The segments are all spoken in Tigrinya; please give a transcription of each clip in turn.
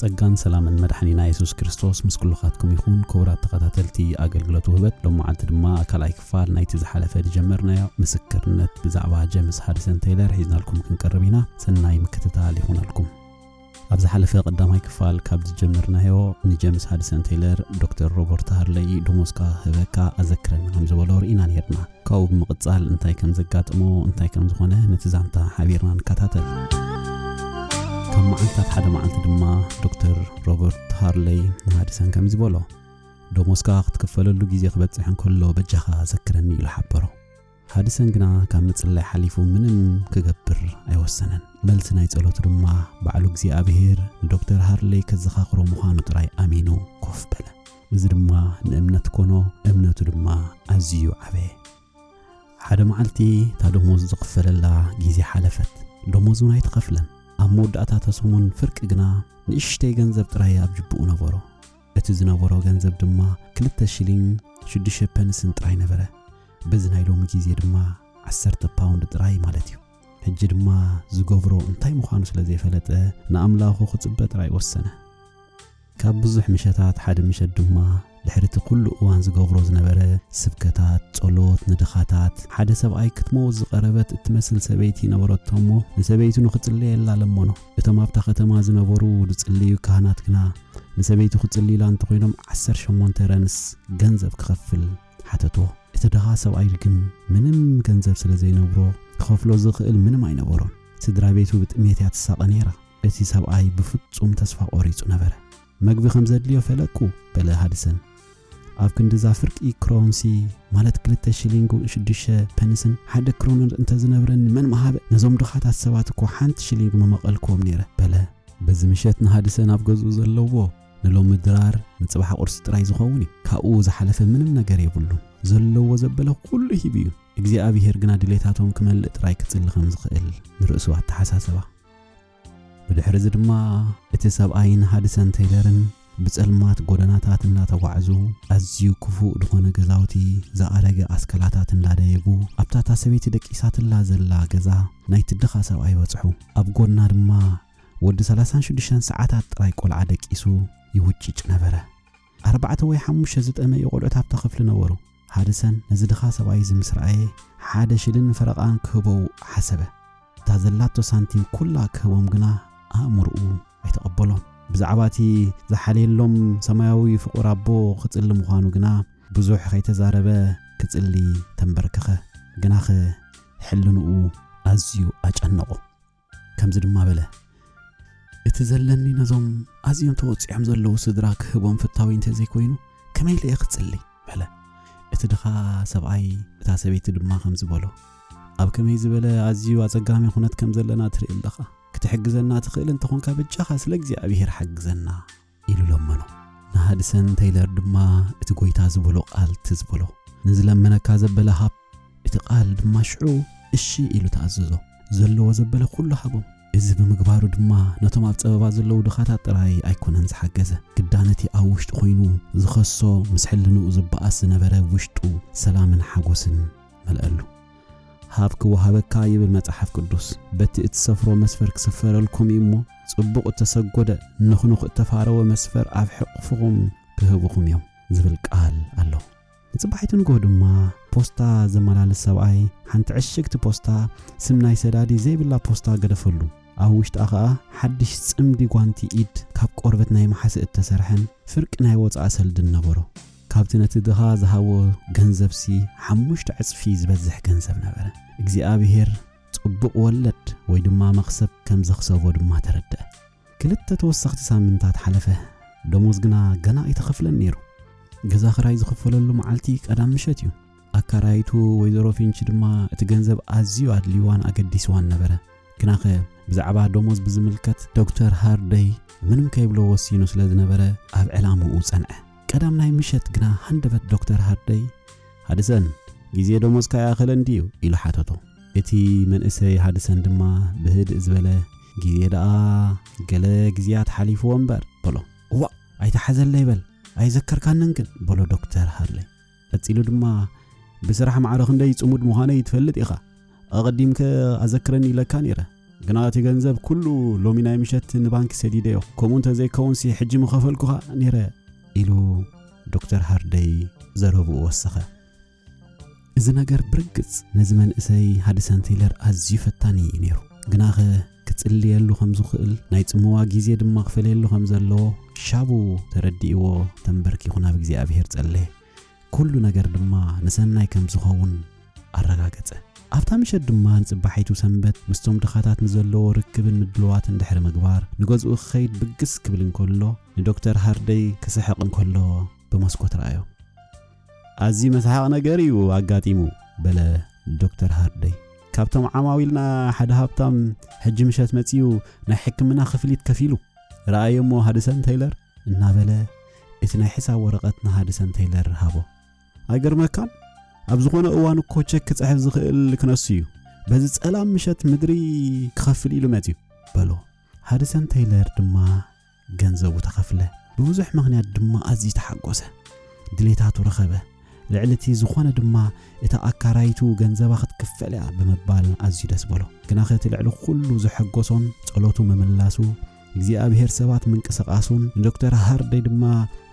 ጸጋን ሰላምን መድሓኒና የሱስ ክርስቶስ ምስ ኩሉኻትኩም ይኹን ክቡራት ተኸታተልቲ ኣገልግሎት ውህበት ሎም መዓልቲ ድማ ካልኣይ ክፋል ናይቲ ዝሓለፈ ዝጀመርናዮ ምስክርነት ብዛዕባ ጀምስ ሃድሰን ተይለር ሒዝናልኩም ክንቀርብ ኢና ሰናይ ምክትታል ይኹነልኩም ኣብ ዝሓለፈ ቀዳማይ ክፋል ካብ ዝጀመርናዮ ንጀምስ ሃድሰን ቴይለር ዶክተር ሮበርት ሃርለይ ደሞዝካ ህበካ ኣዘክረና ከም ዝበሎ ርኢና ነርና ካብኡ ብምቕጻል እንታይ ከም ዘጋጥሞ እንታይ ከም ዝኾነ ነቲ ዛንታ ሓቢርና ንከታተል። ካብ መዓልታት ሓደ መዓልቲ ድማ ዶክተር ሮበርት ሃርለይ ንሃድሰን ከምዚ በሎ ደሞዝካ ክትክፈለሉ ግዜ ክበጽሕ እንከሎ በጃኻ ዘክረኒ ኢሉ ሓበሮ። ሃድሰን ግና ካብ ምጽላይ ሓሊፉ ምንም ክገብር ኣይወሰነን። መልሲ ናይ ጸሎቱ ድማ ባዕሉ እግዚኣብሄር ንዶክተር ሃርለይ ከዘኻኽሮ ምዃኑ ጥራይ ኣሚኑ ኮፍ በለ። እዚ ድማ ንእምነት ኮኖ እምነቱ ድማ ኣዝዩ ዓበየ ሓደ መዓልቲ እታ ደሞዝ ዝኽፈለላ ግዜ ሓለፈት ደሞዝ እውን ኣይተኸፍለን ኣብ መወዳእታ ተሰሙን ፍርቂ ግና ንእሽተይ ገንዘብ ጥራይ ኣብ ጅብኡ ነበሮ እቲ ዝነበሮ ገንዘብ ድማ ክልተ ሽሊንግ ሽዱሽተ ፐንስን ጥራይ ነበረ በዚ ናይ ሎሚ ግዜ ድማ ዓሰርተ ፓውንድ ጥራይ ማለት እዩ ሕጂ ድማ ዝገብሮ እንታይ ምዃኑ ስለ ዘይፈለጠ ንኣምላኹ ክጽበ ጥራይ ወሰነ ካብ ብዙሕ ምሸታት ሓደ ምሸት ድማ ድሕሪ እቲ ኩሉ እዋን ዝገብሮ ዝነበረ ስብከታት፣ ጸሎት፣ ንድኻታት፣ ሓደ ሰብኣይ ክትመውት ዝቐረበት እትመስል ሰበይቲ ነበረቶ እሞ ንሰበይቱ ንኽጽልየላ ለመኖ። እቶም ኣብታ ከተማ ዝነበሩ ዝጽልዩ ካህናት ግና ንሰበይቱ ክጽልዩላ እንተኾይኖም ዓሰርተ ሸሞንተ ረንስ ገንዘብ ክኸፍል ሓተቶ። እቲ ድኻ ሰብኣይ ግን ምንም ገንዘብ ስለ ዘይነብሮ ክኸፍሎ ዝኽእል ምንም ኣይነበሮን። ስድራ ቤቱ ብጥሜት እያ ትሳቐ ነይራ። እቲ ሰብኣይ ብፍጹም ተስፋ ቈሪጹ ነበረ። መግቢ ኸም ዜድልዮ ፈለጥኩ፣ በለ ሃድሰን። ኣብ ክንዲ እዛ ፍርቂ ክሮንሲ፣ ማለት ክልተ ሽሊንግን ሽዱሽተ ፐንስን፣ ሓደ ክሮነር እንተ ዝነብረኒ፣ መን ምሃበ! ነዞም ድኻታት ሰባት እኮ ሓንቲ ሽሊንግ ምመቐልክዎም ነይረ፣ በለ። በዚ ምሸት ንሃድሰን ኣብ ገዝኡ ዘለዎ ንሎሚ ድራር ንጽባሕ ቝርሲ ጥራይ ዚኸውን እዩ። ካብኡ ዝሓለፈ ምንም ነገር የብሉን። ዘለዎ ዘበለ ዅሉ ሂቡ እዩ። እግዚኣብሄር ግና ድሌታቶም ኪመልእ ጥራይ ኪጽሊ ኸም ዚኽእል ንርእሱ ኣተሓሳሰባ። ብድሕሪ እዚ ድማ እቲ ሰብኣይን ሃድሰን ተይለርን ብጸልማት ጎደናታት እናተጓዕዙ ኣዝዩ ክፉእ ዝኾነ ገዛውቲ ዝኣረገ ኣስከላታት እንዳደየቡ ኣብታ እታ ሰበይቲ ደቂሳትላ ዘላ ገዛ ናይቲ ድኻ ሰብኣይ በጽሑ። ኣብ ጎድና ድማ ወዲ ሰላሳን ሽዱሽተን ሰዓታት ጥራይ ቆልዓ ደቂሱ ይውጭጭ ነበረ። ኣርባዕተ ወይ ሓሙሽተ ዝጠመዩ ቆልዑት ኣብታ ክፍሊ ነበሩ። ሃድሰን ነዚ ድኻ ሰብኣይ እዚ ምስ ረኣየ፣ ሓደ ሽልን ፈረቓን ክህቦው ሓሰበ። እታ ዘላቶ ሳንቲም ኩላ ክህቦም ግና ኣእምሮኡ ኣይተቐበሎን። ብዛዕባ እቲ ዝሓልየሎም ሰማያዊ ፍቑር ኣቦ ክጽሊ ምዃኑ ግና ብዙሕ ከይተዛረበ ክጽሊ ተንበርከኸ። ግናኸ ሕልንኡ ኣዝዩ ኣጨነቖ። ከምዚ ድማ በለ እቲ ዘለኒ ነዞም ኣዝዮም ተወፂዖም ዘለዉ ስድራ ክህቦም ፍታዊ እንተዘይኮይኑ ከመይ ኢለ እየ ክፅሊ በለ እቲ ድኻ ሰብኣይ እታ ሰበይቲ ድማ ከምዚ በሎ ኣብ ከመይ ዝበለ ኣዝዩ ኣፀጋሚ ኩነት ከም ዘለና ትርኢ ኣለኻ ክትሕግዘና ትኽእል እንተኾንካ በጃኻ ስለ እግዚኣብሄር ሓግዘና ኢሉ ለመኖ። ንሃድሰን ተይለር ድማ እቲ ጐይታ ዝበሎ ቓል ትዝ በሎ። ንዝለመነካ ዘበለ ሃብ፣ እቲ ቓል ድማ ሽዑ እሺ ኢሉ ተኣዘዞ። ዘለዎ ዘበለ ዅሉ ሃቦም። እዚ ብምግባሩ ድማ ነቶም ኣብ ጸበባ ዘለዉ ድኻታት ጥራይ ኣይኰነን ዝሓገዘ፣ ግዳ ነቲ ኣብ ውሽጡ ዀይኑ ዝኸሶ ምስ ሕልንኡ ዝበኣስ ዝነበረ ውሽጡ ሰላምን ሓጐስን መልኣሉ። ሃብ ክወሃበካ ይብል መጽሓፍ ቅዱስ። በቲ እትሰፍሮ መስፈር ክስፈረልኩም እዩ እሞ፣ ጽቡቕ እተሰጎደ፣ ንኹኑኽ እተፋረወ መስፈር ኣብ ሕቕፍኹም ክህቡኹም እዮም ዝብል ቃል ኣሎ። ንጽባሒቱ ንግሆ ድማ ፖስታ ዘመላልስ ሰብኣይ ሓንቲ ዕሽግቲ ፖስታ ስም ናይ ሰዳዲ ዘይብላ ፖስታ ገደፈሉ። ኣብ ውሽጣ ኸኣ ሓድሽ ጽምዲ ጓንቲ ኢድ ካብ ቆርበት ናይ መሓስእ እተሰርሐን ፍርቂ ናይ ወጻኢ ሰልድን ነበሮ። ካብቲ ነቲ ድኻ ዝሃቦ ገንዘብሲ ሓሙሽተ ዕጽፊ ዝበዝሕ ገንዘብ ነበረ። እግዚኣብሄር ጽቡቕ ወለድ ወይ ድማ መኽሰብ ከም ዘኽሰቦ ድማ ተረድኣ። ክልተ ተወሰኽቲ ሳምንታት ሓለፈ፣ ደሞዝ ግና ገና ኣይተኸፍለን ነይሩ። ገዛ ኽራይ ዝኽፈለሉ መዓልቲ ቀዳም ምሸት እዩ። ኣካራይቱ ወይዘሮ ፊንች ድማ እቲ ገንዘብ ኣዝዩ ኣድልይዋን ኣገዲስዋን ነበረ። ግናኸ ብዛዕባ ደሞዝ ብዝምልከት ዶክተር ሃርደይ ምንም ከይብሎ ወሲኑ ስለ ዝነበረ ኣብ ዕላምኡ ጸንዐ። ቀዳም ናይ ምሸት ግና ሃንደበት ዶክተር ሃርደይ ሃድሰን ግዜ ደሞዝካ ይኣኸለን ድዩ ኢሉ ሓተቶ። እቲ መንእሰይ ሃድሰን ድማ ብህድእ ዝበለ ግዜ ደኣ ገለ ግዜያት ሓሊፍዎ እምበር በሎ። እዋእ ኣይተሓዘለይ በል ኣይዘከርካንን ግን በሎ ዶክተር ሃርለይ። ቀጺሉ ድማ፣ ብስራሕ ማዕረ ክንደይ ጽሙድ ምዃነይ ትፈልጥ ኢኻ። ኣቐዲምከ ኣዘክረኒ ኢለካ ነይረ። ግና እቲ ገንዘብ ኩሉ ሎሚ ናይ ምሸት ንባንኪ ሰዲደዮ። ከምኡ እንተ ዘይከውንሲ ሕጂ ምኸፈልኩኻ ነይረ። ኢሉ ዶክተር ሃርደይ ዘረብኡ ወሰኸ። እዚ ነገር ብርግጽ ነዚ መንእሰይ ሃድሰን ቴይለር ኣዝዩ ፈታኒ እዩ ነይሩ። ግናኸ ክጽልየሉ ከም ዝኽእል፣ ናይ ጽምዋ ግዜ ድማ ክፈልየሉ ከም ዘለዎ ሻቡ ተረዲእዎ ተንበርኪኹ ናብ እግዚኣብሄር ጸለየ። ኩሉ ነገር ድማ ንሰናይ ከም ዝኸውን ኣረጋገጸ። ኣብታ ምሸት ድማ ንጽባሒቱ ሰንበት ምስቶም ድኻታት ንዘለዎ ርክብን ምድልዋትን ድሕሪ ምግባር ንገዝኡ ክኸይድ ብግስ ክብል እንከሎ ንዶክተር ሃርደይ ክስሕቕ እንከሎ ብመስኮት ረኣዮ። ኣዝዩ መስሓቕ ነገር እዩ ኣጋጢሙ በለ ዶክተር ሃርደይ። ካብቶም ዓማዊልና ሓደ ሃብታም ሕጂ ምሸት መጺኡ ናይ ሕክምና ክፍሊት ከፊሉ ረኣዮ እሞ ሃድሰን ተይለር እናበለ እቲ ናይ ሕሳብ ወረቐት ንሃድሰን ተይለር ሃቦ። ኣይገርመካን? ኣብ ዝኾነ እዋን እኮ ቸክ ክጽሕፍ ዝኽእል ክነሱ እዩ። በዚ ጸላም ምሸት ምድሪ ክኸፍል ኢሉ መጺኡ በሎ። ሃድሰን ተይለር ድማ ገንዘቡ ተኸፍለ፣ ብብዙሕ ምኽንያት ድማ ኣዝዩ ተሓጎሰ። ድሌታቱ ረኸበ። ልዕሊ እቲ ዝኾነ ድማ እታ ኣካራይቱ ገንዘባ ክትክፈል እያ ብምባል ኣዝዩ ደስ በሎ። ግናኸ እቲ ልዕሊ ኩሉ ዘሐጎሶን ጸሎቱ ምምላሱ እግዚኣብሔር ሰባት ምንቅስቃሱን ንዶክተር ሃርደይ ድማ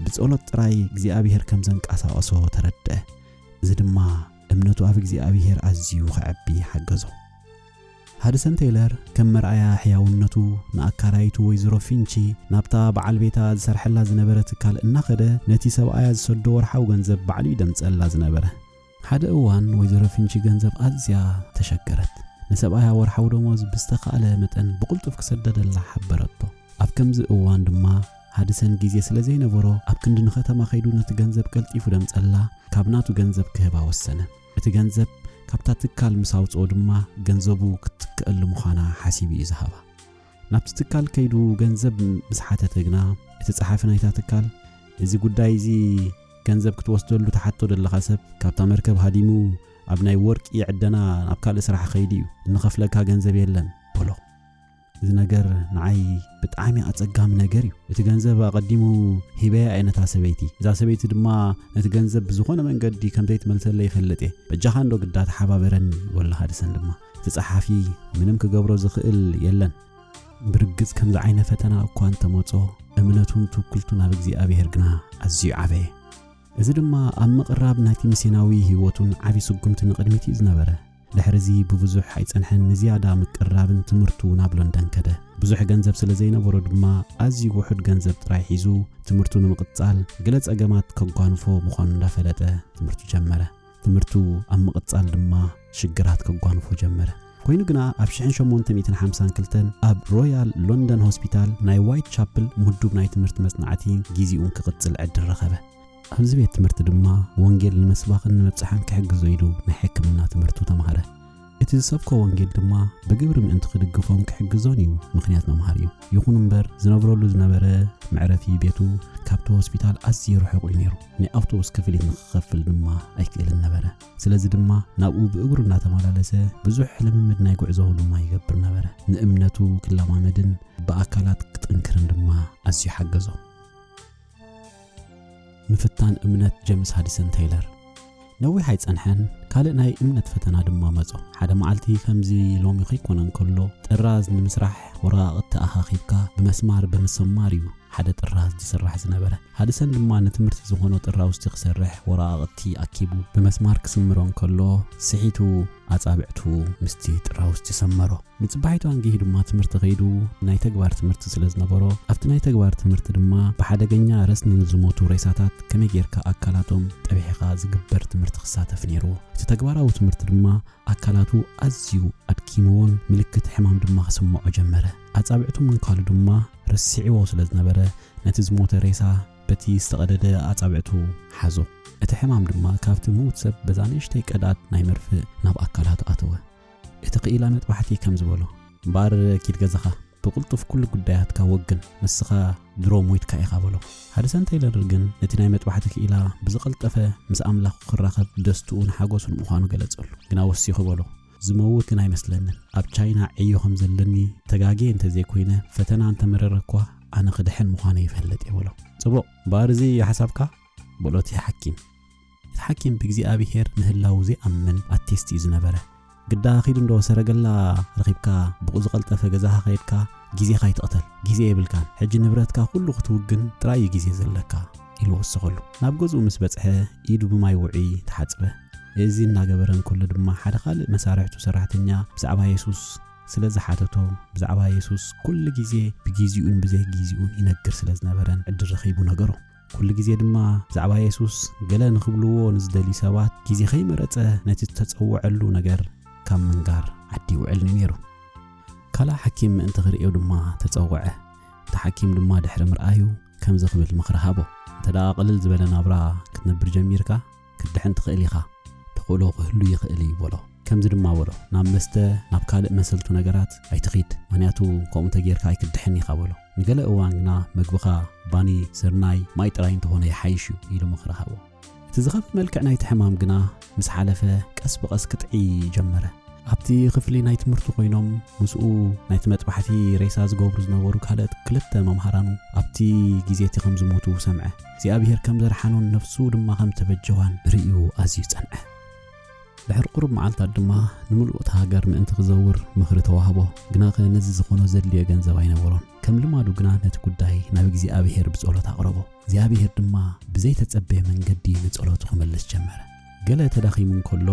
ብጸሎት ጥራይ እግዚኣብሔር ከም ዘንቀሳቐሶ ተረድአ። እዚ ድማ እምነቱ ኣብ እግዚኣብሔር ኣዝዩ ከዐቢ ሓገዞ። ሃድሰን ቴይለር ከም መርኣያ ሕያውነቱ፣ ንኣካራዪቱ ወይዘሮ ፊንቺ ናብታ ብዓል ቤታ ዝሰርሐላ ዝነበረ ትካል እናኸደ ነቲ ሰብኣያ ዝሰዶ ወርሓዊ ገንዘብ ባዕሉ እዩ ደምጸላ ዝነበረ። ሓደ እዋን ወይዘሮ ፊንቺ ገንዘብ ኣዝያ ተሸገረት። ንሰብኣያ ወርሓዊ ደሞዝ ብዝተኻእለ መጠን ብቕልጡፍ ክሰደደላ ሓበረቶ። ኣብ ከምዚ እዋን ድማ ሃድሰን ግዜ ስለ ዘይነበሮ ኣብ ክንዲ ንኸተማ ከይዱ ነቲ ገንዘብ ቀልጢፉ ደምጸላ ካብ ናቱ ገንዘብ ክህባ ወሰነ። እቲ ገንዘብ ካብታ ትካል ምስ ኣውጽኦ ድማ ገንዘቡ ክትትክኣሉ ምዃና ሓሲቡ እዩ ዝሃባ። ናብቲ ትካል ከይዱ ገንዘብ ምስ ሓተተ ግና እቲ ጸሓፊ ናይታ ትካል እዚ ጉዳይ እዚ ገንዘብ ክትወስደሉ ትሓቶ ዘለኻ ሰብ ካብታ መርከብ ሃዲሙ ኣብ ናይ ወርቂ ዕደና ናብ ካልእ ስራሕ ኸይዱ እዩ እንኸፍለካ ገንዘብ የለን በሎ። እዚ ነገር ንዓይ ብጣዕሚ ኣጸጋሚ ነገር እዩ እቲ ገንዘብ ኣቐዲሙ ሂበያ እየ ነታ ሰበይቲ እዛ ሰበይቲ ድማ ነቲ ገንዘብ ብዝኾነ መንገዲ ከም ዘይትመልሰለ ይፈልጥ እየ በጃኻ እንዶ ግዳ ተሓባበረኒ ወላኻ ድሰን ድማ እቲ ጸሓፊ ምንም ክገብሮ ዝኽእል የለን ብርግጽ ከምዚ ዓይነ ፈተና እኳ እንተመጾ እምነቱን ትውክልቱን ኣብ እግዚኣብሔር ግና ኣዝዩ ዓበየ እዚ ድማ ኣብ ምቕራብ ናይቲ ምስናዊ ህይወቱን ዓብዪ ስጉምቲ ንቕድሚት እዩ ዝነበረ ድሕርዚ ብብዙሕ ኣይጸንሐን ንዝያዳ ምቅርራብን ትምህርቱ ናብ ሎንደን ከደ። ብዙሕ ገንዘብ ስለ ዘይነበሮ ድማ ኣዝዩ ውሑድ ገንዘብ ጥራይ ሒዙ ትምህርቱ ንምቕጻል ገለ ጸገማት ከጓንፎ ምዃኑ እንዳፈለጠ ትምህርቱ ጀመረ። ትምህርቱ ኣብ ምቕጻል ድማ ሽግራት ከጓንፎ ጀመረ። ኮይኑ ግና ኣብ 1852 ኣብ ሮያል ሎንደን ሆስፒታል ናይ ዋይት ቻፕል ምዱብ ናይ ትምህርቲ መጽናዕቲ ጊዚኡን ክቕጽል ዕድል ረኸበ። ኣብዚ ቤት ትምህርቲ ድማ ወንጌል ንምስባኽን ንምብጻሕን ክሕግዞ ኢሉ ናይ ሕክምና ትምህርቱ ተማህረ። እቲ ዝሰብኮ ወንጌል ድማ ብግብሪ ምእንቲ ክድግፎን ክሕግዞን እዩ ምኽንያት መምሃር እዩ። ይኹን እምበር ዝነብረሉ ዝነበረ መዕረፊ ቤቱ ካብቲ ሆስፒታል ኣዝዩ ርሑቕ እዩ ነይሩ። ናይ ኣውቶቡስ ክፍሊት ንክኸፍል ድማ ኣይክእልን ነበረ። ስለዚ ድማ ናብኡ ብእግሩ እናተመላለሰ ብዙሕ ልምምድ ናይ ጉዕዞ ድማ ይገብር ነበረ። ንእምነቱ ክለማመድን ብኣካላት ክጥንክርን ድማ ኣዝዩ ሓገዞ። ምፍታን እምነት ጀምስ ሃዲሰን ተይለር ነዊሕ ኣይጸንሐን ካልእ ናይ እምነት ፈተና ድማ መጾ ሓደ መዓልቲ ከምዚ ሎሚ ከይኮነ እንከሎ ጥራዝ ንምስራሕ ወረቓቕቲ ኣኻኺብካ ብመስማር ብምሰማር እዩ ሓደ ጥራዝ ዝስራሕ ዝነበረ ሃድሰን ድማ ንትምህርቲ ዝኾኖ ጥራውስቲ ክሰርሕ ወረቓቕቲ ኣኪቡ ብመስማር ክስምሮ እንከሎ ስሒቱ ኣጻብዕቱ ምስቲ ጥራውስቲ ሰመሮ ንጽባሒቱ ኣንጊሁ ድማ ትምህርቲ ከይዱ ናይ ተግባር ትምህርቲ ስለ ዝነበሮ ኣብቲ ናይ ተግባር ትምህርቲ ድማ ብሓደገኛ ረስኒ ንዝሞቱ ሬሳታት ከመይ ጌርካ ኣካላቶም ጠቢሕኻ ዝግበር ትምህርቲ ክሳተፍ ነይርዎ። እቲ ተግባራዊ ትምህርቲ ድማ ኣካላቱ ኣዝዩ ኣድኪምዎን ምልክት ሕማም ድማ ክስምዖ ጀመረ። ኣጻብዕቱ ምንካሉ ድማ ረሲዕዎ ስለ ዝነበረ ነቲ ዝሞተ ሬሳ በቲ ዝተቐደደ ኣጻብዕቱ ሓዞ። እቲ ሕማም ድማ ካብቲ ምዉት ሰብ በዛ ንእሽተይ ቀዳድ ናይ መርፍእ ናብ ኣካላቱ ኣተወ። እቲ ክኢላ መጥባሕቲ ከም ዝበሎ እምበኣር ኪድ ገዛኻ ብቕልጡፍ ኩሉ ጉዳያትካ ወግን ንስኻ ድሮ ሞይትካ ኢኻ በሎ። ሃድሰን ተይለር ግን ነቲ ናይ መጥባሕቲ ክኢላ ብዝቐልጠፈ ምስ ኣምላኹ ክራኸብ ደስትኡን ሓጎሱን ምዃኑ ገለጸሉ። ግና ወሲኹ በሎ ዝመውት ግን ኣይመስለንን። ኣብ ቻይና ዕዮ ከም ዘለኒ ተጋግየ እንተ ዘይኮይነ ፈተና እንተ መረረ እኳ ኣነ ክድሕን ምዃነይ ይፈልጥ እየ በሎ። ጽቡቕ እምበኣር እዚ እዩ ሓሳብካ? በሎ እቲ ሓኪም። እቲ ሓኪም ብእግዚኣብሄር ምህላዉ ዘይኣምን ኣቲስት እዩ ዝነበረ። ግዳ ኪድ እንዶ ሰረገላ ረኺብካ ብቁዝቐልጠፈ ገዛኻ ከይድካ ግዜኻ ኣይትቕተል ግዜ የብልካን ሕጂ ንብረትካ ኩሉ ክትውግን ጥራይ እዩ ግዜ ዘለካ ኢሉ ወሰኸሉ። ናብ ገዝኡ ምስ በጽሐ ኢዱ ብማይ ውዑይ ተሓጽበ። እዚ እናገበረ እንከሎ ድማ ሓደ ካልእ መሳርሕቱ ሰራሕተኛ ብዛዕባ የሱስ ስለ ዝሓተቶ ብዛዕባ የሱስ ኩሉ ግዜ ብግዜኡን ብዘይግዜኡን ይነግር ስለ ዝነበረን ዕድል ረኺቡ ነገሮ። ኵሉ ግዜ ድማ ብዛዕባ የሱስ ገለ ንኽብልዎ ንዝደልዩ ሰባት ግዜ ኸይመረጸ ነቲ እተጸውዐሉ ነገር ካብ ምንጋር ዓዲ ይውዕል ነይሩ። ካልእ ሓኪም ምእንቲ ኽርእዮ ድማ ተጸውዐ። እቲ ሓኪም ድማ ድሕሪ ምርኣዩ ከምዚ ኽብል ምኽሪ ሃቦ፣ እንተደኣ ቕልል ዝበለ ናብራ ክትነብር ጀሚርካ፣ ክትድሕን ትኽእል ኢኻ፣ ተኽእሎ ክህሉ ይኽእል እዩ በሎ። ከምዚ ድማ በሎ፣ ናብ መስተ፣ ናብ ካልእ መሰልቱ ነገራት ኣይትኺድ፣ ምኽንያቱ ከምኡ እንተ ጌርካ ኣይክትድሕን ኢኻ በሎ። ንገለ እዋን ግና መግብኻ ባኒ፣ ስርናይ፣ ማይ ጥራይ እንተ ዀነ ይሓይሽ እዩ ኢሉ ምኽሪ ሃቦ። እቲ ዝኸፍእ መልክዕ ናይቲ ሕማም ግና ምስ ሓለፈ ቀስ ብቐስ ክጥዕይ ጀመረ። ኣብቲ ክፍሊ ናይ ትምህርቱ ኰይኖም ምስኡ ናይቲ መጥባሕቲ ሬሳ ዝገብሩ ዝነበሩ ካልኦት ክልተ መምሃራኑ ኣብቲ ግዜ እቲ ከም ዝሞቱ ሰምዐ። እግዚኣብሄር ከም ዘድሓኖን ነፍሱ ድማ ከም እተበጀዋን ርእዩ ኣዝዩ ጸንዐ። ድሕሪ ቁሩብ መዓልታት ድማ ንምሉእ እታ ሃገር ምእንቲ ክዘውር ምኽሪ ተዋህቦ። ግናኸ ነዚ ዝኾኖ ዘድልዮ ገንዘብ ኣይነበሮን። ከም ልማዱ ግና ነቲ ጉዳይ ናብ እግዚኣብሄር ብጸሎት ኣቕረቦ። እግዚኣብሄር ድማ ብዘይተጸበየ መንገዲ ንጸሎቱ ክመልስ ጀመረ። ገለ ተዳኺሙ እንከሎ፣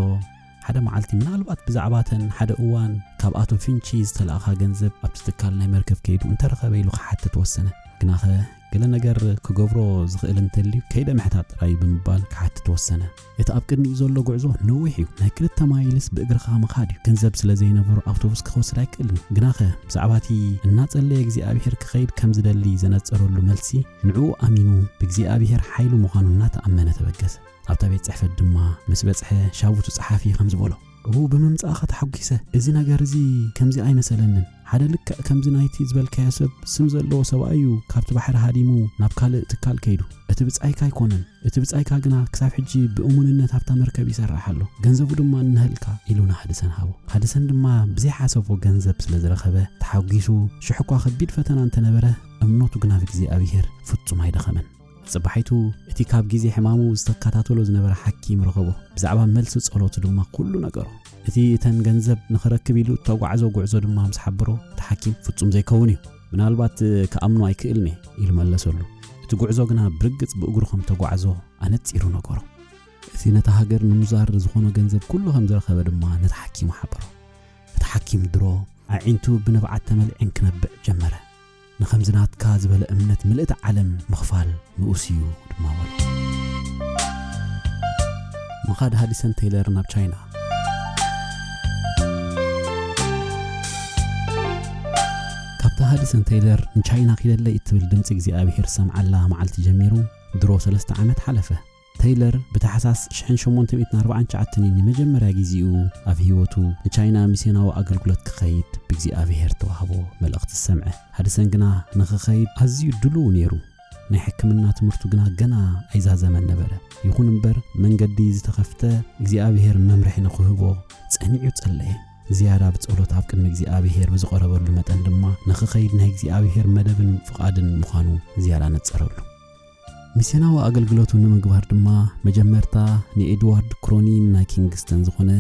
ሓደ መዓልቲ ምናልባት ብዛዕባ እተን ሓደ እዋን ካብ ኣቶ ፊንቺ ዝተላእኻ ገንዘብ ኣብቲ ትካል ናይ መርከብ ከይዱ እንተረኸበ ኢሉ ክሓትት ወሰነ። ግናኸ ገለ ነገር ክገብሮ ዝኽእል እንተልዩ ከይደ ምሕታት ጥራይ ብምባል ክሓትት ወሰነ። እቲ ኣብ ቅድሚኡ ዘሎ ጉዕዞ ነዊሕ እዩ። ናይ ክልተ ማይልስ ብእግርኻ ምኻድ እዩ። ገንዘብ ስለ ዘይነበሮ ኣውቶቡስ ክኸውስድ ኣይክእልን እዩ። ግናኸ ብዛዕባ እቲ እናጸለየ እግዚኣብሄር ክኸይድ ከም ዝደሊ ዘነጸረሉ መልሲ ንዕኡ ኣሚኑ ብእግዚኣብሄር ሓይሉ ምዃኑ እናተኣመነ ተበገሰ። ኣብታ ቤት ጽሕፈት ድማ ምስ በጽሐ ሻቡቱ ጸሓፊ ከምዚ በሎ እው ብምምጻእኻ ተሓጒሰ እዚ ነገር እዚ ከምዚ ኣይመሰለንን ሓደ ልክዕ ከምዚ ናይቲ ዝበልካዮ ሰብ ስም ዘለዎ ሰብኣይ እዩ ካብቲ ባሕሪ ሃዲሙ ናብ ካልእ ትካል ከይዱ እቲ ብጻይካ ኣይኮነን እቲ ብጻይካ ግና ክሳብ ሕጂ ብእሙንነት ኣብታ መርከብ ይሰርሕ ኣሎ ገንዘቡ ድማ እንሀልካ ኢሉ ንሃድሰን ሃቦ ሃድሰን ድማ ብዘይሓሰቦ ገንዘብ ስለ ዝረኸበ ተሓጒሱ ሽሕኳ ከቢድ ፈተና እንተነበረ እምነቱ ግና ብእግዚኣብሄር ፍጹም ኣይደኸመን ጽባሒቱ እቲ ካብ ግዜ ሕማሙ ዝተከታተሎ ዝነበረ ሓኪም ረኸቦ። ብዛዕባ መልሲ ጸሎቱ ድማ ኩሉ ነገሮ። እቲ እተን ገንዘብ ንኽረክብ ኢሉ እተጓዕዞ ጉዕዞ ድማ ምስ ሓበሮ እቲ ሓኪም ፍጹም ዘይከውን እዩ ምናልባት ክኣምኖ ኣይክእልን እየ ኢሉ መለሰሉ። እቲ ጉዕዞ ግና ብርግጽ ብእግሩ ከም እተጓዕዞ ኣነጺሩ ነገሮ። እቲ ነታ ሃገር ንምዛር ዝኾኖ ገንዘብ ኩሉ ከም ዝረኸበ ድማ ነቲ ሓኪሙ ሓበሮ። እቲ ሓኪም ድሮ ኣዒንቱ ብንብዓት ተመሊዐን ክነብዕ ጀመረ። ንኸምዚ ናትካ ዝበለ እምነት ምልእቲ ዓለም ምኽፋል ንኡስ እዩ ድማ በሎ። ምኻድ ሃዲሰን ቴይለር ናብ ቻይና ካብታ ሃዲሰን ቴይለር ንቻይና ኪደለይ እትብል ድምፂ እግዚኣብሄር ዝሰምዓላ መዓልቲ ጀሚሩ ድሮ ሰለስተ ዓመት ሓለፈ። ተይለር ብታሕሳስ ሽሕን ሸሞንተ ሚእትን ኣርባዓን ትሽዓተን እዩ ንመጀመርያ ጊዚኡ ኣብ ህይወቱ ንቻይና ሚስዮናዊ ኣገልግሎት ክኸይድ ብእግዚኣብሄር እተዋህቦ መልእኽቲ ዝሰምዐ። ሃድሰን ግና ንኽኸይድ ኣዝዩ ድሉው ነይሩ። ናይ ሕክምና ትምህርቱ ግና ገና ኣይዛዘመን ነበረ። ይኹን እምበር መንገዲ ዝተኸፍተ እግዚኣብሄር መምርሒ ንኽህቦ ጸኒዑ ጸለየ። ዝያዳ ብጸሎት ኣብ ቅድሚ እግዚኣብሄር ብዝቐረበሉ መጠን ድማ ንኽኸይድ ናይ እግዚኣብሄር መደብን ፍቓድን ምዃኑ ዝያዳ ነጸረሉ። ሚስዮናዊ ኣገልግሎቱ ንምግባር ድማ መጀመርታ ንኤድዋርድ ክሮኒን ናይ ኪንግስተን ዝኾነ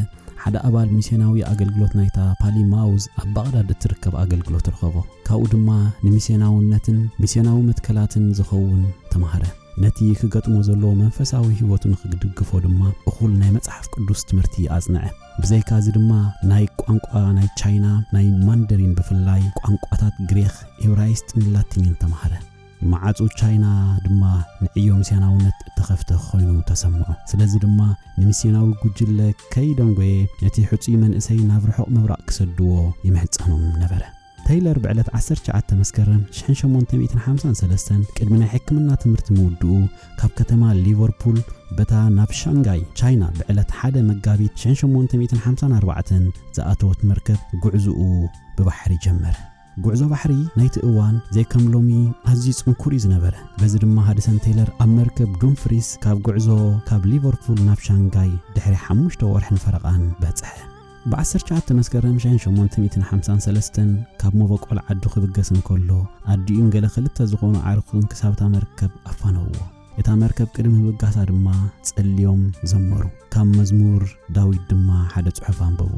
ሓደ ኣባል ሚስዮናዊ ኣገልግሎት ናይታ ፓሊማውዝ ኣብ ባቕዳድ እትርከብ ኣገልግሎት ረኸቦ ካብኡ ድማ ንሚስዮናውነትን ሚስዮናዊ መትከላትን ዝኸውን ተማሃረ ነቲ ክገጥሞ ዘለዎ መንፈሳዊ ህይወቱ ንክድግፎ ድማ እኹል ናይ መጽሓፍ ቅዱስ ትምህርቲ ኣጽንዐ ብዘይካ እዚ ድማ ናይ ቋንቋ ናይ ቻይና ናይ ማንደሪን ብፍላይ ቋንቋታት ግሪኽ ኤብራይስጥን ላቲንን ተማሃረ መዓጹ ቻይና ድማ ንዕዮ ሚስዮናውነት እተኸፍተ ዀይኑ ተሰምዖ። ስለዚ ድማ ንሚስዮናዊ ጕጅለ ከይደንጐየ ነቲ ሕጹይ መንእሰይ ናብ ርሑቕ ምብራቕ ኪሰድዎ ይምሕጸኖም ነበረ። ተይለር ብዕለት ዓሰርተ ትሽዓተ መስከረም ሽሕን ሸሞንተ ሚእትን ሓምሳን ሰለስተን ቅድሚ ናይ ሕክምና ትምህርቲ ምውድኡ ካብ ከተማ ሊቨርፑል በታ ናብ ሻንጋይ ቻይና ብዕለት ሓደ መጋቢት ሽሕን ሸሞንተ ሚእትን ሓምሳን ኣርባዕተን ዝኣተወት መርከብ ጕዕዞኡ ብባሕሪ ጀመረ። ጉዕዞ ባሕሪ ናይቲ እዋን ዘይከም ሎሚ ኣዝዩ ጽንኩር እዩ ዝነበረ። በዚ ድማ ሃድሰን ቴይለር ኣብ መርከብ ዱምፍሪስ ካብ ጉዕዞ ካብ ሊቨርፑል ናብ ሻንጋይ ድሕሪ ሓሙሽተ ወርሕን ፈረቓን በጽሐ። ብዓሰርተ ትሽዓተ መስከረም ሽሕን ሸሞንተ ሚእትን ሓምሳን ሰለስተን ካብ መበቆል ዓዱ ክብገስ እንከሎ ኣዲኡን ገለ ክልተ ዝኾኑ ኣዕሩኽቱን ክሳብ እታ መርከብ ኣፋነውዎ። እታ መርከብ ቅድሚ ምብጋሳ ድማ ጸልዮም ዘመሩ። ካብ መዝሙር ዳዊት ድማ ሓደ ጽሑፍ ኣንበቡ።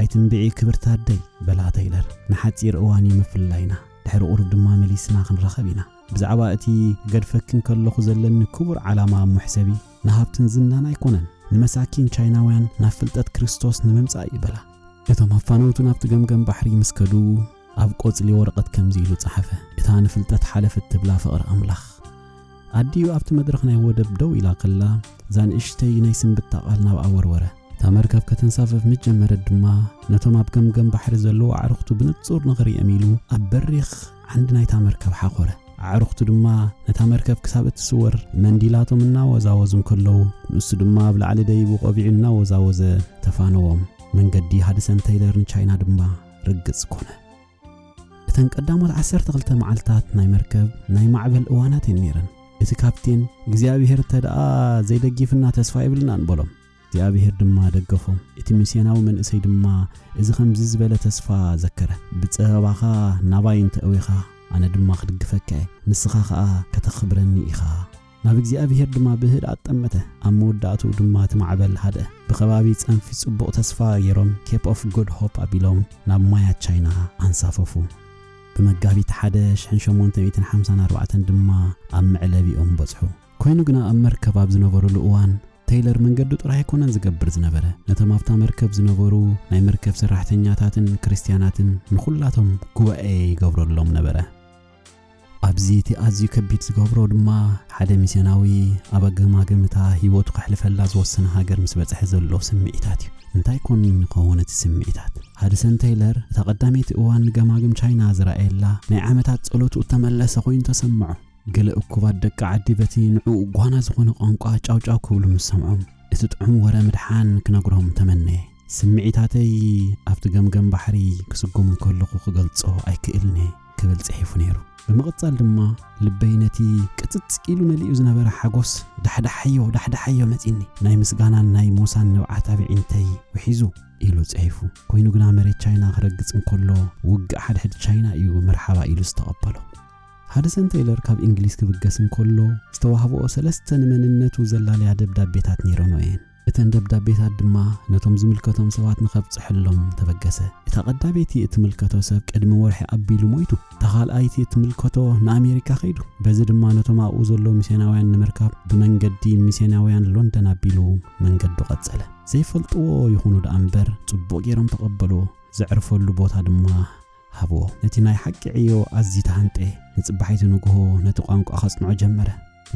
ኣይትንብዒ ክብርቲ ኣደይ በላ ተይለር። ንሓጺር እዋን እዩ ምፍላይና፣ ድሕሪ ቁሩብ ድማ መሊስና ክንራኸብ ኢና። ብዛዕባ እቲ ክገድፈኪ እንከለኹ ዘለኒ ክቡር ዓላማ እሞ ሕሰቢ፣ ንሃብትን ዝናን ኣይኮነን፣ ንመሳኪን ቻይናውያን ናብ ፍልጠት ክርስቶስ ንምምጻእ እዩ በላ። እቶም ኣፋነውቱ ናብቲ ገምገም ባሕሪ ምስ ከዱ፣ ኣብ ቆጽሊ ወረቐት ከምዚ ኢሉ ጸሓፈ፣ እታ ንፍልጠት ሓለፈት ትብላ ፍቕሪ ኣምላኽ። ኣዲኡ ኣብቲ መድረኽ ናይ ወደብ ደው ኢላ ከላ፣ እዛ ንእሽተይ ናይ ስንብታ ቓል ናብኣ ወርወረ። እታ መርከብ ከተንሳፍፍ ምስ ጀመረት ድማ፣ ነቶም ኣብ ገምገም ባሕሪ ዘለዉ ኣዕሩኽቱ ብንጹር ንኽርእዮም ኢሉ ኣብ በሪኽ ዓንዲ ናይታ መርከብ ሓኾረ። ኣዕሩኽቱ ድማ ነታ መርከብ ክሳብ እትስወር ብመንዲላቶም እናወዛወዙ እንከለዉ፣ ንሱ ድማ ኣብ ላዕሊ ደይቡ ቆቢዑ እናወዛወዘ ተፋነዎም። መንገዲ ሃድሰን ተይለር ንቻይና ድማ። ርግጽ ኮነ። እተን ቀዳሞት ዓሰርተ ክልተ መዓልትታት ናይ መርከብ ናይ ማዕበል እዋናት እየን ነይረን። እቲ ካፕቴን እግዚኣብሄር እንተ ደኣ ዘይደጊፍና ተስፋ የብልናን በሎም። እግዚኣብሄር ድማ ደገፎም። እቲ ሚስዮናዊ መንእሰይ ድማ እዚ ከምዚ ዝበለ ተስፋ ዘከረ፣ ብጸበባኻ ናባይ እንተ እዊኻ ኣነ ድማ ክድግፈካ እየ፣ ንስኻ ኸኣ ከተኽብረኒ ኢኻ። ናብ እግዚኣብሄር ድማ ብህድኣት ጠመተ፣ ኣብ መወዳእትኡ ድማ እቲ ማዕበል ሃድአ። ብከባቢ ጸንፊ ጽቡቕ ተስፋ ገይሮም ኬፕ ኦፍ ጉድ ሆፕ ኣቢሎም ናብ ማያት ቻይና ኣንሳፈፉ። ብመጋቢት ሓደ ሽሕን ሸሞንተ ሚእትን ሓምሳን ኣርባዕተን ድማ ኣብ መዕለቢኦም በጽሑ። ኮይኑ ግና ኣብ መርከብ ኣብ ዝነበሩሉ እዋን ተይለር መንገዱ ጥራይ ኣይኮነን ዝገብር ዝነበረ፣ ነቶም ኣብታ መርከብ ዝነበሩ ናይ መርከብ ሰራሕተኛታትን ክርስትያናትን ንኹላቶም ጉባኤ ይገብረሎም ነበረ። ኣብዚ እቲ ኣዝዩ ከቢድ ዝገብሮ ድማ ሓደ ሚስዮናዊ ኣብ ኣገማግም እታ ህይወቱ ከሕልፈላ ዝወሰነ ሃገር ምስ በጽሐ ዘሎ ስምዒታት እዩ። እንታይ ኮን ይኸውን እቲ ስምዒታት? ሃድሰን ተይለር እታ ቀዳመይቲ እዋን ንገማግም ቻይና ዝረኣየላ ናይ ዓመታት ጸሎቱ እተመለሰ ኮይኑ ተሰምዖ። ገለ እኩባት ደቂ ዓዲ በቲ ንዕኡ ጓና ዝኾነ ቋንቋ ጫውጫው ክብሉ ምስ ሰምዖም እቲ ጥዑም ወረ ምድሓን ክነግሮም ተመነየ። ስምዒታተይ ኣብቲ ገምገም ባሕሪ ክስጉም እንከለኹ ክገልጾ ኣይክእልን እየ። ክብል ጽሒፉ ነይሩ። ብምቕጻል ድማ ልበይ ነቲ ቅጽጽ ኢሉ መሊኡ ዝነበረ ሓጎስ ዳሕዳሓዮ ዳሕዳሓዮ መጺኒ፣ ናይ ምስጋናን ናይ ሞሳን ንብዓት ኣብ ኣዒንተይ ውሒዙ ኢሉ ጽሒፉ። ኮይኑ ግና መሬት ቻይና ክረግጽ እንከሎ ውግእ ሓድሕድ ቻይና እዩ መርሓባ ኢሉ ዝተቐበሎ። ሃድሰን ተይለር ካብ እንግሊዝ ክብገስ እንከሎ ዝተዋህበኦ ሰለስተ ንመንነቱ ዘላለያ ደብዳቤታት ነይረንኦ እየን። እተን ደብዳቤታት ድማ ነቶም ዝምልከቶም ሰባት ንኸብጽሐሎም ተበገሰ። እታ ቀዳመይቲ እትምልከቶ ሰብ ቅድሚ ወርሒ ኣቢሉ ሞይቱ። እታ ኻልኣይቲ እትምልከቶ ንኣሜሪካ ኸይዱ። በዚ ድማ ነቶም ኣብኡ ዘለዉ ሚስዮናውያን ንምርካብ ብመንገዲ ሚስዮናውያን ሎንደን ኣቢሉ መንገዱ ቐጸለ። ዘይፈልጥዎ ይኹኑ ደኣ እምበር ጽቡቕ ገይሮም ተቐበልዎ። ዘዕርፈሉ ቦታ ድማ ሃብዎ። ነቲ ናይ ሓቂ ዕዮ ኣዝዩ ተሃንጠየ። ንጽባሒቱ ንግሆ ነቲ ቋንቋ ከጽንዖ ጀመረ።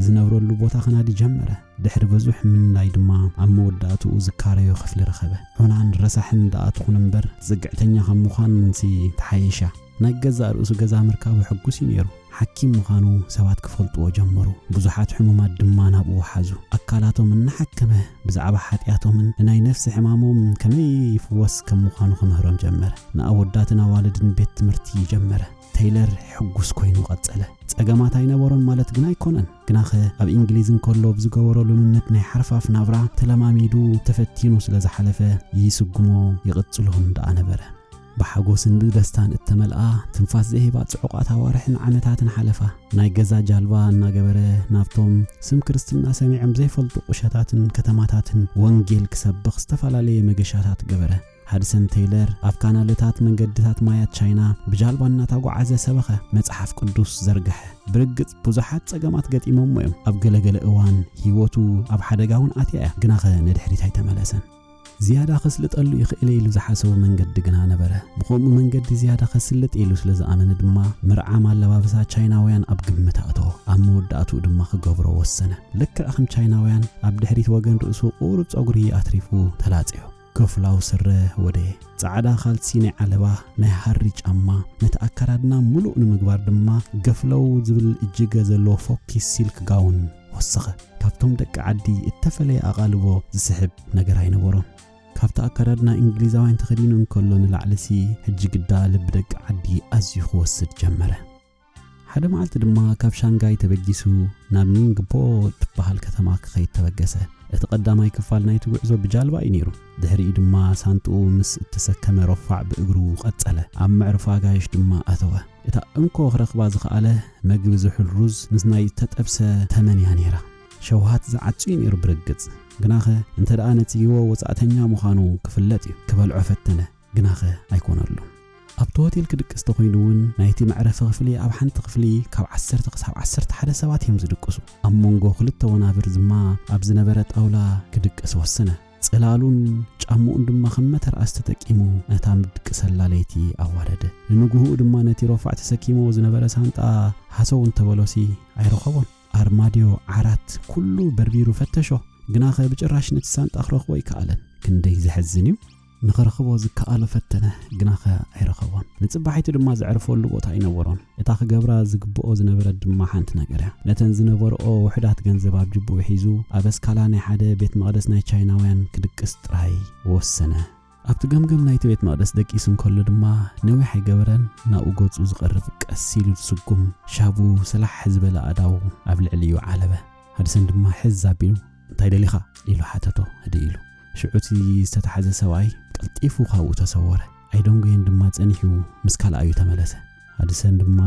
ዝነብረሉ ቦታ ከናዲ ጀመረ። ድሕሪ በዙሕ ምንዳይ ድማ ኣብ መወዳእትኡ ዝካረዮ ክፍሊ ረኸበ። ዑናን ረሳሕን ደኣ ትኹን እምበር ጽግዕተኛ ከም ምዃንሲ ተሓየሻ። ናይ ገዛእ ርእሱ ገዛ ምርካቡ ሕጉስ እዩ ነይሩ። ሓኪም ምዃኑ ሰባት ኪፈልጥዎ ጀመሩ፣ ብዙሓት ሕሙማት ድማ ናብኡ ሓዙ። ኣካላቶም እናሓከመ፣ ብዛዕባ ሓጢኣቶምን ንናይ ነፍሲ ሕማሞምን ከመይ ይፍወስ ከም ምዃኑ ኺምህሮም ጀመረ። ንኣወዳትን ኣዋልድን ቤት ትምህርቲ ጀመረ። ተይለር ሕጉስ ኮይኑ ቀጸለ። ጸገማት ኣይነበሮን ማለት ግን ኣይኮነን። ግናኸ ኣብ እንግሊዝ እንከሎ ብ ዝገበሮ ልምምድ ናይ ሓርፋፍ ናብራ ተለማሚዱ ተፈቲኑ ስለ ዝሓለፈ ይስጉሞ ይቕጽሎን ደኣ ነበረ። ብሓጎስን ብደስታን እተመልኣ ትንፋስ ዘይህባ ጽዑቓት ኣዋርሕን ዓመታትን ሓለፋ። ናይ ገዛ ጃልባ እናገበረ ናብቶም ስም ክርስትና ሰሚዖም ዘይፈልጡ ቁሸታትን ከተማታትን ወንጌል ክሰብኽ ዝተፈላለየ መገሻታት ገበረ። ሃድሰን ተይለር ኣብ ካናለታት መንገድታት ማያት ቻይና ብጃልባ እናታጓዓዘ ሰበኸ፣ መጽሓፍ ቅዱስ ዘርግሐ። ብርግጽ ብዙሓት ጸገማት ገጢሞሞ እዮም፣ ኣብ ገለ ገለ እዋን ህይወቱ ኣብ ሓደጋ እውን ኣትያ እያ፣ ግናኸ ንድሕሪት ኣይተመለሰን። ዝያዳ ኸስልጠሉ ይኽእል'የ ኢሉ ዝሓሰቦ መንገዲ ግና ነበረ። ብኸምኡ መንገዲ ዝያዳ ኸስልጥ ኢሉ ስለ ዝኣመነ ድማ፣ ምርዓም ኣለባብሳ ቻይናውያን ኣብ ግምት ኣእተዎ። ኣብ መወዳእትኡ ድማ ክገብሮ ወሰነ። ልክዕ ከም ቻይናውያን፣ ኣብ ድሕሪት ወገን ርእሱ ቁሩብ ጸጉሪ ኣትሪፉ ተላጽዮ። ከፍላው ስረ ወደየ። ጻዕዳ ኻልሲ ናይ ዓለባ፣ ናይ ሃሪ ጫማ፣ ነቲ ኣከዳድና ምሉእ ንምግባር ድማ ገፍለው ዝብል እጅገ ዘለዎ ፎኪስ ሲልክ ጋውን፣ ወሰኸ። ካብቶም ደቂ ዓዲ እተፈለየ ኣቓልቦ ዝስሕብ ነገር ኣይነበሮን። ካብቲ ኣከዳድና እንግሊዛውያን ተኸዲኑ እንከሎ ንላዕሊሲ ሕጂ ግዳ ልቢ ደቂ ዓዲ ኣዝዩ ክወስድ ጀመረ። ሓደ መዓልቲ ድማ ካብ ሻንጋይ ተበጊሱ ናብ ኒንግፖ እትበሃል ከተማ ክኸይድ ተበገሰ። እቲ ቀዳማይ ክፋል ናይቲ ጉዕዞ ብጃልባ እዩ ነይሩ። ድሕሪኡ ድማ ሳንጥኡ ምስ እተሰከመ ረፋዕ ብእግሩ ቐጸለ። ኣብ መዕርፎ ኣጋይሽ ድማ ኣተወ። እታ እንኮ ክረኽባ ዝኸኣለ መግቢ ዝሑል ሩዝ ምስ ናይ ዝተጠብሰ ተመን እያ ነይራ። ሸውሃት ዝዓጹ እዩ ነይሩ ብርግጽ፣ ግናኸ እንተደኣ ነጺግዎ ወጻእተኛ ምዃኑ ክፍለጥ እዩ። ክበልዖ ፈተነ፣ ግናኸ ኣይኰነሉን። ኣብቲ ሆቴል ክድቅስ ተዀይኑ እውን ናይቲ መዕረፊ ክፍሊ ኣብ ሓንቲ ክፍሊ ካብ ዓሰርተ ክሳብ ዓሰርተ ሓደ ሰባት እዮም ዝድቅሱ። ኣብ መንጎ ክልተ ወናብር ድማ ኣብ ዝነበረ ጣውላ ክድቅስ ወሰነ። ጽላሉን ጫምኡን ድማ ከም መተርኣስ ተጠቂሙ ነታ ምድቅሰላ ለይቲ ኣዋረደ። ንንጉሁኡ ድማ ነቲ ሮፋዕ ተሰኪምዎ ዝነበረ ሳንጣ ሃሰው እንተበሎሲ ኣይረኸቦን። ኣርማድዮ፣ ዓራት፣ ኩሉ በርቢሩ ፈተሾ። ግናኸ ብጭራሽ ነቲ ሳንጣ ክረኽቦ ኣይከኣለን። ክንደይ ዘሕዝን እዩ! ንኽረኽቦ ዝከኣሎ ፈተነ፣ ግናኸ ኣይረኸቦን። ንጽባሒቱ ድማ ዘዕርፈሉ ቦታ ኣይነበሮን። እታ ክገብራ ዝግብኦ ዝነበረት ድማ ሓንቲ ነገር እያ። ነተን ዝነበርኦ ውሑዳት ገንዘብ ኣብ ጅብኡ ሒዙ፣ ኣብ ኣስካላ ናይ ሓደ ቤት መቕደስ ናይ ቻይናውያን ክድቅስ ጥራይ ወሰነ። ኣብቲ ገምገም ናይቲ ቤት መቕደስ ደቂሱ እንከሎ ድማ ነዊሕ ኣይገበረን፣ ናብኡ ገጹ ዝቐርብ ቀስ ኢሉ ዝስጉም ሻቡ ሰላሕ ዝበለ ኣእዳዉ ኣብ ልዕሊኡ ዓለበ። ሃድሰን ድማ ሕዝ ኣቢሉ እንታይ ደሊኻ? ኢሉ ሓተቶ ህድእ ኢሉ። ሽዑ እቲ ዝተታሕዘ ሰብኣይ ቀልጢፉ ካብኡ ተሰወረ። ኣይደንጎየን ድማ ጸኒሑ ምስ ካልኣዩ ተመለሰ። ሃድሰን ድማ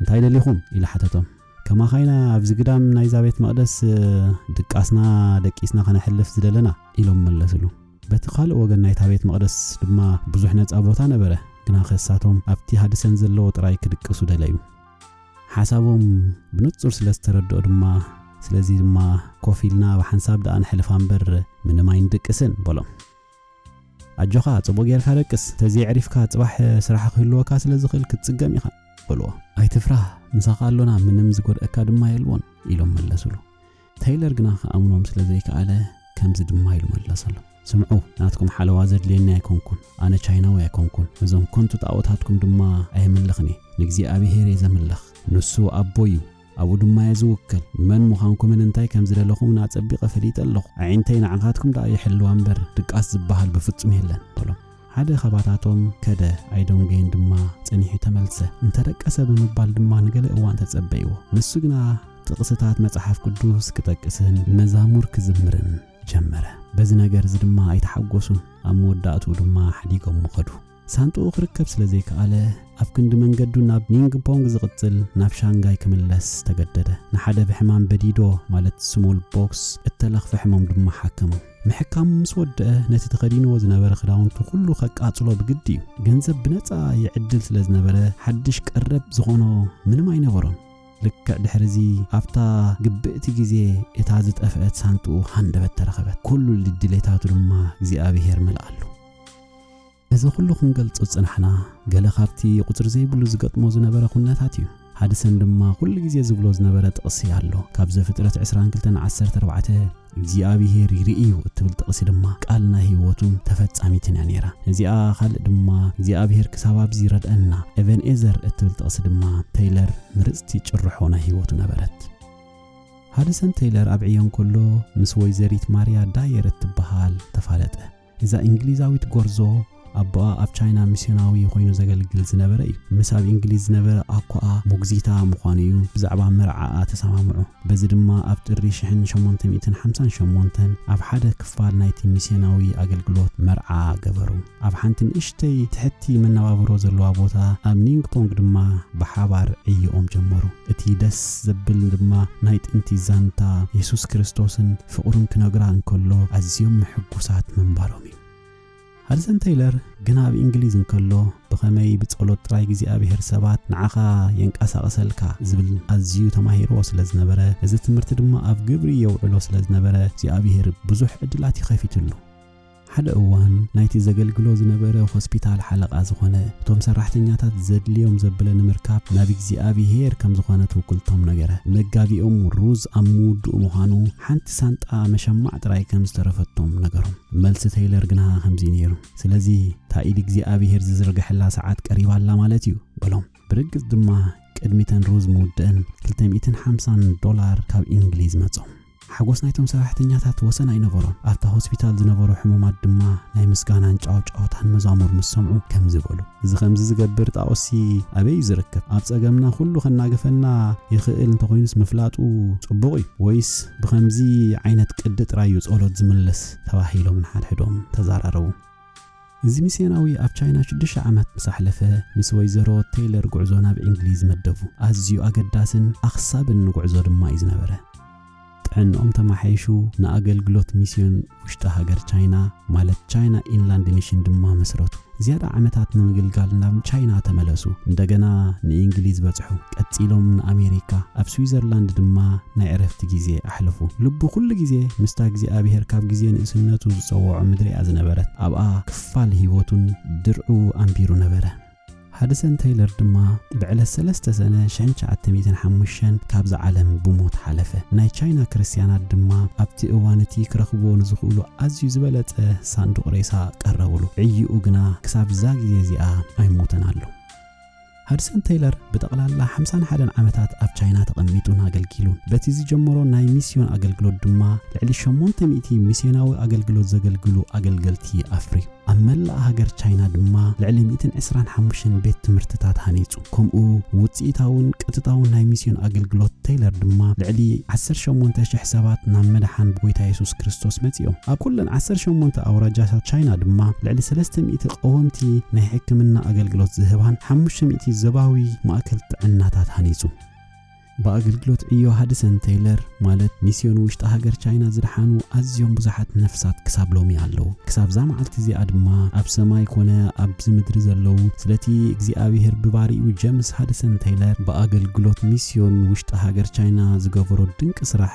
እንታይ ደሊኹም? ኢሉ ሓተቶም። ከማኻ ኢና ኣብዚ ግዳም ናይዛ ቤት መቕደስ ድቃስና ደቂስና ኸነሕልፍ ዝደለና ኢሎም መለስሉ። በቲ ኻልእ ወገን ናይታ ቤት መቕደስ ድማ ብዙሕ ነጻ ቦታ ነበረ፣ ግናኸ እሳቶም ኣብቲ ሃድሰን ዘለዎ ጥራይ ክድቅሱ ደለዩ። ሓሳቦም ብንጹር ስለ ዝተረድኦ ድማ ስለዚ ድማ ኮፍ ኢልና ብሓንሳብ ደኣ ነሕልፋ እምበር ምንም ኣይንድቅስን በሎም። ኣጆኻ ጽቡቕ ጌርካ ደቅስ፣ ተዘየዕሪፍካ ጽባሕ ስራሕ ክህልወካ ስለ ዝኽእል ክትጽገም ኢኻ በልዎ። ኣይትፍራህ፣ ምሳኻ ኣሎና፣ ምንም ዝጎድኣካ ድማ የልቦን ኢሎም መለሱሉ። ተይለር ግና ክኣምኖም ስለ ዘይከኣለ ከምዚ ድማ ኢሉ መለሰሎም። ስምዑ ናትኩም ሓለዋ ዘድልየኒ ኣይኮንኩን ኣነ ቻይናዊ ኣይኮንኩን እዞም ኮንቱ ጣኦታትኩም ድማ ኣየምልኽን እየ ንእግዚኣብሄር እየ ዘምልኽ ንሱ ኣቦይ እዩ ኣብኡ ድማ እየ ዝውከል። መን ምዃንኩምን እንታይ ከም ዝደለኹምን ኣጸቢቐ ፈሊጠ ኣለኹ። ኣዒንተይ ንዓኻትኩም ደኣ ይሕልዋ እምበር ድቃስ ዝበሃል ብፍጹም የለን፣ በሎም። ሓደ ኻባታቶም ከደ፣ ኣይዶንጌን ድማ ጸኒሑ ተመልሰ። እንተ ደቀሰ ብምባል ድማ ንገለ እዋን ተጸበይዎ። ንሱ ግና ጥቕስታት መጽሓፍ ቅዱስ ክጠቅስን መዛሙር ክዝምርን ጀመረ። በዚ ነገር እዚ ድማ ኣይተሓጐሱን፣ ኣብ መወዳእትኡ ድማ ሓዲጎሞ ኸዱ። ሳንጥኡ ክርከብ ስለ ዘይከኣለ፣ ኣብ ክንዲ መንገዱ ናብ ኒንግፖንግ ዝቕጽል፣ ናብ ሻንጋይ ክምለስ ተገደደ። ንሓደ ብሕማም በዲዶ፣ ማለት ስሞል ቦክስ፣ እተለኽፈ ሕሙም ድማ ሓከሞ። ምሕካሙ ምስ ወድአ፣ ነቲ ተኸዲንዎ ዝነበረ ክዳውንቱ ዅሉ ከቃጽሎ ብግዲ እዩ። ገንዘብ ብነጻ ይዕድል ስለ ዝነበረ፣ ሓድሽ ቀረብ ዝዀኖ ምንም ኣይነበሮን። ልክዕ ድሕርዚ፣ ኣብታ ግብእቲ ግዜ እታ ዝጠፍአት ሳንጥኡ ሃንደበት ተረኸበት፣ ኵሉ ድሌታቱ ድማ እግዚኣብሄር መልኣሉ። እዚ ኩሉ ክንገልጾ ዝጸናሕና ገለ ካብቲ ቁጽሪ ዘይብሉ ዝገጥሞ ዝነበረ ኩነታት እዩ። ሃድሰን ድማ ኩሉ ግዜ ዝብሎ ዝነበረ ጥቕሲ ኣሎ። ካብ ዘፍጥረት ዕስራን ክልተን ዓሰርተ ኣርባዕተ እግዚኣብሄር ይርኢ እዩ እትብል ጥቕሲ ድማ ቃል ናይ ህይወቱን ተፈጻሚትን እያ ነይራ። እዚኣ ካልእ ድማ እግዚኣብሄር ክሳብ ኣብዚ ይረድኣና ኤቨንኤዘር እትብል ጥቕሲ ድማ ተይለር ምርጽቲ ጭርሖ ናይ ህይወቱ ነበረት። ሃድሰን ተይለር ኣብ ዕዮ እንከሎ ምስ ወይዘሪት ማርያ ዳየር እትበሃል ተፋለጠ። እዛ እንግሊዛዊት ጎርዞ ኣቦኣ ኣብ ቻይና ሚስዮናዊ ኮይኑ ዘገልግል ዝነበረ እዩ። ምስ ኣብ እንግሊዝ ዝነበረ ኣኮኣ ሞግዚታ ምዃኑ እዩ ብዛዕባ መርዓኣ ተሰማምዑ። በዚ ድማ ኣብ ጥሪ ሽሕን ሸሞንተ ሚእትን ሓምሳን ሸሞንተን ኣብ ሓደ ክፋል ናይቲ ሚስዮናዊ ኣገልግሎት መርዓ ገበሩ። ኣብ ሓንቲ ንእሽተይ ትሕቲ መነባብሮ ዘለዋ ቦታ ኣብ ኒንግፖንግ ድማ ብሓባር ዕዮኦም ጀመሩ። እቲ ደስ ዘብል ድማ ናይ ጥንቲ ዛንታ የሱስ ክርስቶስን ፍቕሩን ክነግራ እንከሎ ኣዝዮም ምሕጉሳት ምንባሮም እዩ። ሃድሰን ተይለር ግና ኣብ እንግሊዝ እንከሎ ብኸመይ ብጸሎት ጥራይ እግዚኣብሄር ሰባት ንዓኻ የንቀሳቕሰልካ ዝብል ኣዝዩ ተማሂርዎ ስለ ዝነበረ እዚ ትምህርቲ ድማ ኣብ ግብሪ የውዕሎ ስለ ዝነበረ እግዚኣብሄር ብዙሕ ዕድላት እዩ ከፊትሉ። ሓደ እዋን ናይቲ ዘገልግሎ ዝነበረ ሆስፒታል ሓለቓ ዝኾነ፣ እቶም ሰራሕተኛታት ዘድልዮም ዘብለ ንምርካብ ናብ እግዚኣብሄር ከም ዝኾነ ትውክልቶም ነገረ። መጋቢኦም ሩዝ ኣብ ምውድኡ ምዃኑ ሓንቲ ሳንጣ መሸማዕ ጥራይ ከም ዝተረፈቶም ነገሮም። መልሲ ተይለር ግና ከምዚ ነይሩ፣ ስለዚ እታ ኢድ እግዚኣብሄር ዝዝርገሐላ ሰዓት ቀሪባ ኣላ ማለት እዩ በሎም። ብርግጽ ድማ ቅድሚተን ሩዝ ምውድእን ክልተ ሚእትን ሓምሳን ዶላር ካብ እንግሊዝ መጾም። ሓጎስ ናይቶም ሰራሕተኛታት ወሰን ኣይነበሮን። ኣብታ ሆስፒታል ዝነበሩ ሕሙማት ድማ ናይ ምስጋናን ጫውጫውታን መዛሙር ምስ ሰምዑ ከምዚ በሉ። እዚ ከምዚ ዝገብር ጣኦስሲ ኣበይ እዩ ዝርከብ? ኣብ ጸገምና ኩሉ ከናግፈና ይኽእል እንተኾይኑስ ምፍላጡ ጽቡቕ እዩ። ወይስ ብኸምዚ ዓይነት ቅዲ ጥራይ እዩ ጸሎት ዝምልስ? ተባሂሎም ንሓድሕዶም ተዛራረቡ። እዚ ሚስዮናዊ ኣብ ቻይና ሽዱሽተ ዓመት ምስ ኣሕለፈ፣ ምስ ወይዘሮ ቴይለር ጕዕዞ ናብ እንግሊዝ መደቡ። ኣዝዩ ኣገዳስን ኣኽሳብን ንጕዕዞ ድማ እዩ ዝነበረ። ጥዕንኦም ተመሓይሹ ንኣገልግሎት ሚስዮን ውሽጢ ሃገር ቻይና፣ ማለት ቻይና ኢንላንድ ሚሽን፣ ድማ መስረቱ። ዝያዳ ዓመታት ንምግልጋል ናብ ቻይና ተመለሱ፣ እንደገና ንእንግሊዝ በጽሑ። ቀጺሎም ንኣሜሪካ፣ ኣብ ስዊዘርላንድ ድማ ናይ ዕረፍቲ ግዜ ኣሕለፉ። ልቡ ኩሉ ግዜ ምስታ እግዚኣብሄር ካብ ግዜ ንእስነቱ ዝጸወዖ ምድሪ እያ ዝነበረት። ኣብኣ ክፋል ህይወቱን ድርዑ ኣንቢሩ ነበረ። ሃድሰን ተይለር ድማ ብዕለት ሰለስተ ሰነ ሽሕን ትሽዓተ ሚእትን ሓሙሽተን ካብዛ ዓለም ብሞት ሓለፈ። ናይ ቻይና ክርስትያናት ድማ ኣብቲ እዋን እቲ ክረኽብዎ ንዝኽእሉ ኣዝዩ ዝበለጸ ሳንዱቕ ሬሳ ቀረብሉ። ዕይኡ ግና ክሳብ እዛ ግዜ እዚኣ ኣይሞተን ኣሎ። ሃድሰን ተይለር ብጠቕላላ ሓምሳን ሓደን ዓመታት ኣብ ቻይና ተቐሚጡን ኣገልጊሉን። በቲ ዝጀመሮ ናይ ሚስዮን ኣገልግሎት ድማ ልዕሊ ሸሞንተ ሚእቲ ሚስዮናዊ ኣገልግሎት ዘገልግሉ ኣገልገልቲ ኣፍርዩ። ኣብ መላእ ሃገር ቻይና ድማ ልዕሊ ሚእትን ዕስራን ሓሙሽተን ቤት ትምህርትታት ሃኒጹ። ከምኡ ውጽኢታውን ቀጥታውን ናይ ሚስዮን ኣገልግሎት ተይለር ድማ ልዕሊ ዓሰርተ ሸሞንተ ሽሕ ሰባት ናብ ምድሓን ብጎይታ የሱስ ክርስቶስ መጺኡ። ኣብ ኩለን ዓሰርተ ሸሞንተ ኣውራጃታት ቻይና ድማ ልዕሊ ሰለስተ ሚእቲ ቀወምቲ ናይ ሕክምና ኣገልግሎት ዝህባን ሓሙሽተ ሚእቲ ዞባዊ ማእከል ጥዕናታት ሃኒጹ። ብኣገልግሎት ዕዮ ሃድሰን ተይለር ማለት ሚስዮን ውሽጢ ሃገር ቻይና ዝደሓኑ ኣዝዮም ብዙሓት ነፍሳት ክሳብ ሎሚ ኣለዉ። ክሳብ'ዛ መዓልቲ እዚኣ ድማ ኣብ ሰማይ ኮነ ኣብዚ ምድሪ ዘለዉ ስለቲ እግዚኣብሄር ብባሪኡ ጀምስ ሃድሰን ተይለር ብኣገልግሎት ሚስዮን ውሽጢ ሃገር ቻይና ዝገበሮ ድንቂ ስራሕ